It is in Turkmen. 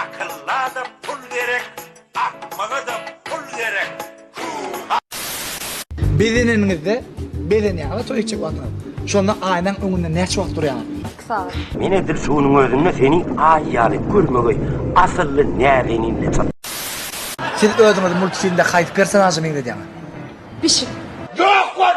Akyllada pul gerek akmagada pul gerek Huha. Bezeneniňizde bezenýäňiz toý etjek wagtyňyz. Şonda aýnaň öňünde näçe wagt durýaňyz? Iki sagat. Men edil şunuň özünde seni aý ýaly görmegi asylly näzenin diýip çatdym. Siz özüňizi multfilmde haýsy personaža meňzedýäňiz? Pişik. Ýok bol!